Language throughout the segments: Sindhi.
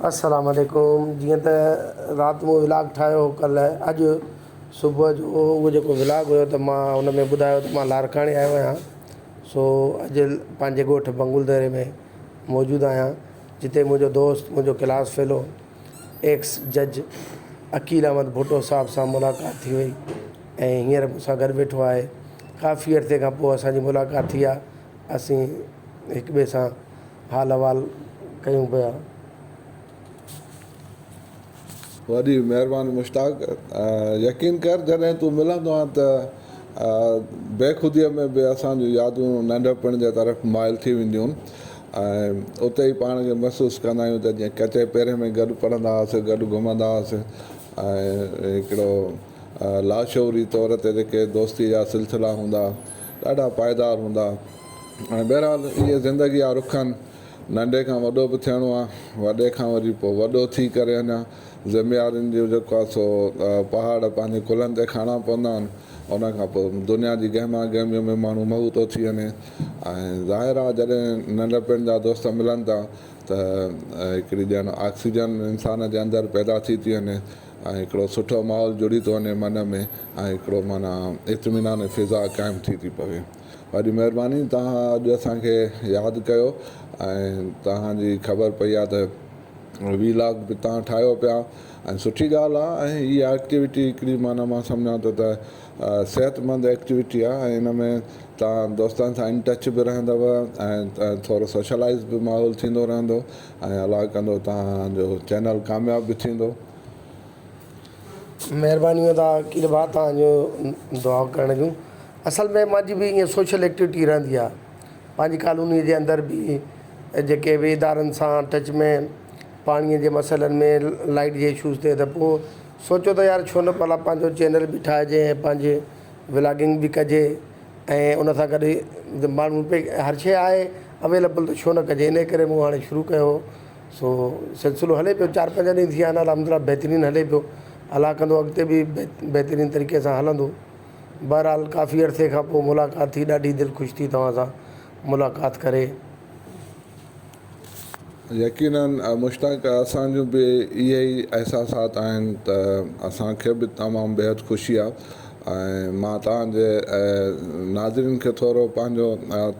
السلام عليڪم جيئن ته رات مون ولاگ ٺاهيو هو ڪلهه اڄ صبح جو اهو جيڪو ولاگ هيو ته مان ان ۾ ٻڌايو ته مان لاڙڪاڻي آيو آهيان سو اڄ پنهنجي ڳوٺ بنگول ديري ۾ موجود آهيان جتي منهنجو دوست منهنجو ڪلاس فيلو ايڪس جج عقيل احمد ڀٽو صاحب سان ملاقات ٿي وئي ۽ هينئر مون سان گڏ ويٺو آهي. ڪافي عرصي کان پوء اسان جي ملاقات ٿي آهي. اسين هڪ ٻئي سان حال احوال ڪيون پيا. وڏي مهرباني مشتاق. يقين ڪر جڏهن تون ملندو آهين ته بيخوديء ۾ به اسان جون يادون ننڍپڻ جي طرف مائل ٿي وينديون ۽ اتي ئي پاڻ کي محسوس ڪندا آهيون ته جيئن ڪچي پيري ۾ گڏ پڙهندا هئاسين، گڏ گهمندا هئاسين ۽ هڪڙو لاشعوري طور تي جيڪي دوستيء جا سلسلا هوندا، ڏاڍا پائيدار هوندا. هاڻي بهرحال اهي زندگيء جا رخ آهن. ننڍي کان وڏو به ٿيڻو آهي، وڏي کان وري پوء وڏو ٿي ڪري اڃا ذميوارين جو جيڪو آهي سو پهاڙ پنهنجي ڪلهن تي کڻڻا پوندا آهن. ان کان پوء دنيا جي گهما گهميء ۾ ماڻهو مئو ٿو ٿي وڃي ۽ ظاهر آهي جڏهن ننڍپڻ جا دوست ملن ٿا ته هڪڙي ڄڻ آڪسيجن انسان جي اندر پيدا ٿي ٿي وڃي. ۽ هڪڙو سٺو ماحول جڙي ٿو وڃي من ۾ ۽ هڪڙو معنيٰ اطمينان فضا قائم ٿي ٿي پوي. وڏي مهرباني توهان اڄ اسان کي ياد ڪيو ۽ توهان جي خبر پئي آهي ته وي لاگ به توهان ٺاهيو پيا ۽ سٺي ڳالهه آهي ۽ هي ايڪٽيوٽي هڪڙي معنيٰ مان سمجهان ٿو ته صحت مند ايڪٽيوٽي آهي ۽ ان ۾ توهان دوستن سان ان ٽچ به رهندو ۽ ٿورو سوشلائز به ماحول ٿيندو رهندو ۽ الله ڪندو توهان جو چينل ڪامياب به ٿيندو. مھرباني ادا عقيل ڀاء توھان جو دعائون ڪرڻ جون اصل ۾ مانجي به ائين سوشل ايڪٽيوٽي رھندي آ پانجي ڪالوني جي اندر به جيڪي به ادارن سان ٽچ ۾ پاڻي جي مسئلن ۾ لائيٽ جي اشوز تي ته پوء سوچيو ته يار ڇو نه پلا پانجو چينل به ٺاھجي ۽ پانجي ولاگنگ به ڪجي ۽ ان سان گڏ ماڻهو پئي هر شيء آهي اويليبل ته ڇو نه ڪجي انهي ڪري مون هاڻي شروع ڪيو هو سو سلسلو هلي پيو چار پنج ڏينهن ٿي ويا آهن الحمد لله بهترين هلي پيو الله ڪندو اڳتي به بهترين طريقي سان هلندو بهرحال ڪافي عرصي کان پوء ملاقات ٿي ڏاڍي دل خوش ٿي توهان سان ملاقات ڪري يقينن مشتاق اسان جون به اهي ئي احساسات آهن ته اسان کي به تمام بيحد خوشي آهي ۽ مان توهان جي ناظرين کي ٿورو پنهنجو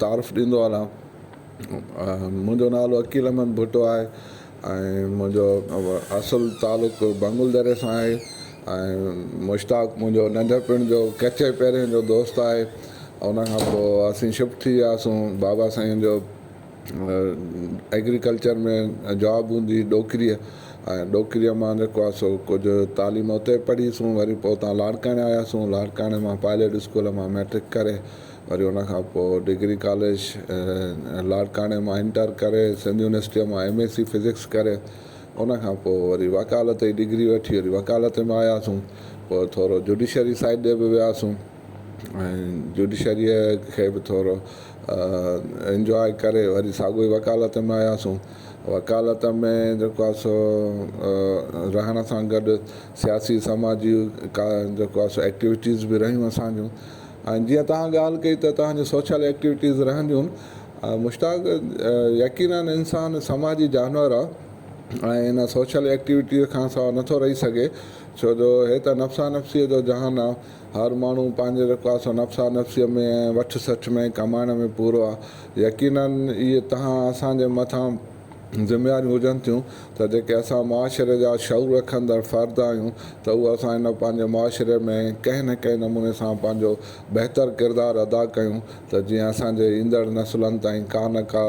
تعارف ڏيندو هلان منهنجو نالو عقيل احمد ڀٽو آهي ۽ منهنجو اصل تعلق بنگل دري سان آهي ۽ مشتاق منهنجو ننڍپڻ جو ڪچي پهرين جو دوست آهي ان کان پوء اسين شفٽ ٿي وياسون بابا سائين جو ايگريڪلچر ۾ جاب هوندي ڏوڪريء ۽ ڏوڪريء مان جيڪو آهي سو ڪجهه تعليم اتي پڙهيسون وري پوء اتان لاڙڪاڻي آياسون لاڙڪاڻي مان پائليٽ اسڪول مان مئٽرڪ ڪري وري ان کان پوء ڊگري ڪاليج لاڙڪاڻي مان انٽر ڪري سنڌ يونيورسٽيء مان ايم ايس سي فزڪس ڪري ان کان پوء وري وڪالت جي ڊگري وٺي وري وڪالت ۾ آياسون پوء ٿورو جوڊيشري سائيڊ ڏي به وياسون ۽ جڊيشريء کي به ٿورو انجواء ڪري وري ساڳيو ئي وڪالت ۾ آياسون. وڪالت ۾ جيڪو آهي سو رهڻ سان گڏ سياسي سماجي ڪا جيڪو آهي سو ايڪٽيوٽيز به رهيون اسان جون ۽ جيئن توهان ڳالهه ڪئي ته توهان جون سوشل ايڪٽيوٽيز رهنديون مشتاق يقيناً انسان سماجي جانور آهي ۽ ان سوشل ايڪٽيوٽيز کان سواء نٿو رهي سگهي ڇو جو هي ته نفسا نفسيء جو جهان آهي هر ماڻهو پنهنجي رقاص و نفسا نفسيء ۾ ۽ وٺ سٺ ۾ ڪمائڻ ۾ پورو آ. يقيناً اهي تهان اسان جي مٿان ذميواريون هجن ٿيون ته جيڪي اسان معاشري جا شعور رکندڙ فرد آهيون ته اهو اسان هن پنهنجي معاشري ۾ ڪنهن نه ڪنهن نموني سان پنهنجو بهتر ڪردار ادا ڪيون ته جيئن اسان جي ايندڙ نسلن تائين ڪا نه ڪا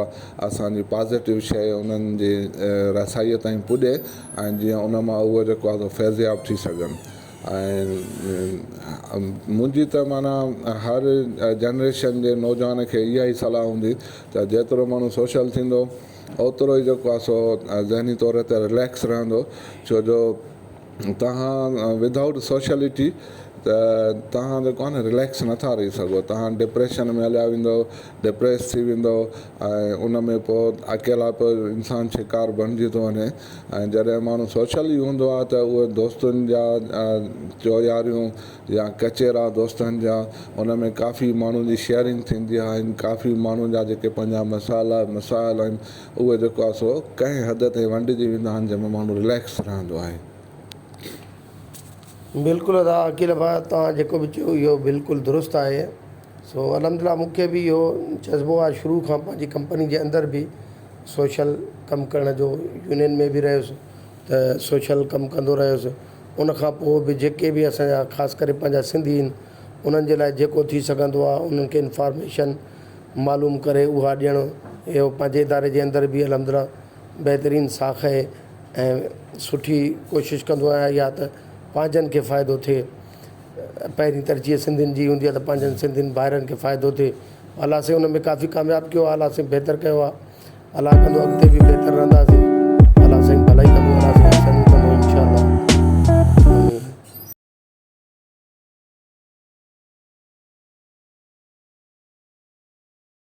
اسان جي پازيٽو شيء انهن جي رسائيء تائين پڄي ۽ جيئن ان مان اهو جيڪو آ سو فيضياب ٿي سگهن. ۽ منهنجي ته معنيٰ هر جنريشن جي نوجوان کي اها ئي صلاح هوندي ته جيترو ماڻهو سوشل ٿيندو اوترو ئي جيڪو آهي سو ذهني طور تي رليڪس رهندو ڇو جو توهان ود آئوٽ سوشلٽي ته توهان جيڪو آهي نه رليڪس نٿا رهي سگهو توهان ڊپريشن ۾ هليا ويندو ڊپريس ٿي ويندو ۽ ان ۾ پوء اڪيلائپ انسان شڪار بڻجي ٿو وڃي ۽ جڏهن ماڻهو سوشل ئي هوندو آهي ته اهي دوستن جا چوياريون يا ڪچهرا دوستن جا ان ۾ ڪافي ماڻهن جي شيئرنگ ٿيندي آهن ڪافي ماڻهن جا جيڪي پنهنجا مسئلا مسائل آهن اهي جيڪو آهي سو ڪنهن حد تائين ونڊجي ويندا آهن جنهن ۾ ماڻهو رليڪس رهندو آهي. بلڪل ادا عقيل ڀاء توهان جيڪو به چيو اهو بلڪل درست آهي سو الحمدلله مونکي به اهو جذبو آهي شروع کان پنهنجي ڪمپني جي اندر به سوشل ڪم ڪرڻ جو يونين ۾ به رهيس ته سوشل ڪم ڪندو رهيس ان کان پوء به جيڪي به اسان جا خاص ڪري پنهنجا سنڌي آهن انهن جي لاء جيڪو ٿي سگهندو آهي انهن کي انفارميشن معلوم ڪري اها ڏيڻ اهو پنهنجي اداري جي اندر به الحمدلله بهترين ساک اهي ۽ سٺي ڪوشش ڪندو آهيان يا ته پنهنجن کي فائدو ٿئي پهرين ترجيح سنڌين جي هوندي آهي ته پنهنجن سنڌين ڀائرن کي فائدو ٿئي الله سين ان ۾ ڪافي ڪامياب ڪيو آ الله سين بهتر ڪيو آ الله ڪندو اڳتي به بهتر رهنداسين الله سين ڀلائي ڪندو الله سين چڱو ڪندو انشاء الله.